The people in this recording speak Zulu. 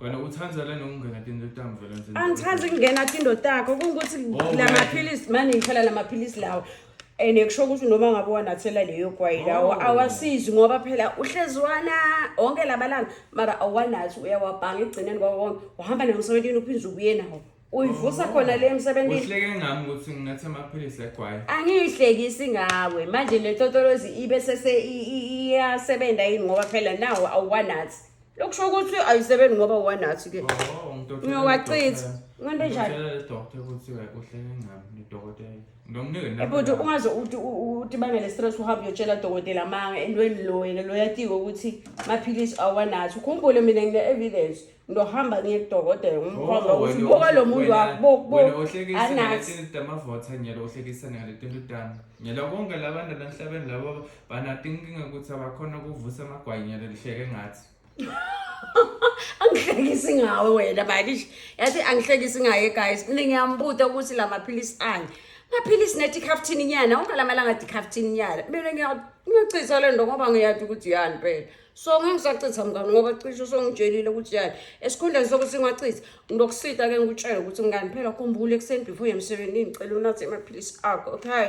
Wena uthanda lena ukungena tinto tam vele nje. Angithandi ukungena tinto takho kungukuthi Oh, la man. maphilisi mani ngithela la maphilisi lawa and kusho ukuthi noma ngabe wanathela leyo gwayi lawo Oh. awasizi ngoba phela uhlezi wana onke lamalanga mara awanathi uyawabhanga ekugcineni kwako konke uhamba naye emsebentini uphinde ubuye nawo uyivusa Oh. khona le emsebentini Uhleke ngami ukuthi nginathe amaphilisi egwayi. angiyihlekisi ngawe manje le totolozi ibe sese i- i- iyasebenza yini ngoba phela nawo awanathi Lokhu kusho ukuthi ayisebenzi ngoba wanathi ke. Oh, ngidokotela. Ngiyowachitha. Ngento enjani? Ngidokotela le doctor ukuthi uhlele ngami ngidokotela. Ngomnike nami. Ebhuti ungaze uthi utibangele stress uhambe uyotshela dokotela manga entweni lo yena lo yatiko ukuthi maphilisi awanathi. Ukhumbule mina ngine evidence. Ngiyohamba ngiye kudokotela ngimkhomba Oh, ukuthi wena- boka lo muntu wena- wakho bo wena bo ohlekisa anathi. ngalezi zinto amavotha nyela ohlekisa ngaleti nto tani nyela konke labantu lanhlabeni labo Banato inkinga ukuthi abakhona ukuvusa amagwanya lelihleke ngathi. angihlekisi ngawe wena bakish yathi angihlekisi ngaye guys mina ngiyambuta ukuthi la maphilisi ani maphilisi netikhaftini nyana wonke la malanga tikhaftini nyana mina ngiyachitha le nto ngoba ngiyati ukuthi yani phela so ngangisachitha mngani ngoba cishe usongitshelile ukuthi yani esikhundleni sokuthi ngachitha ngizokusita ke ngikutshele ukuthi ngani phela khumbula ekuseni before yemsebenzini ngicela unathe amaphilisi akho okay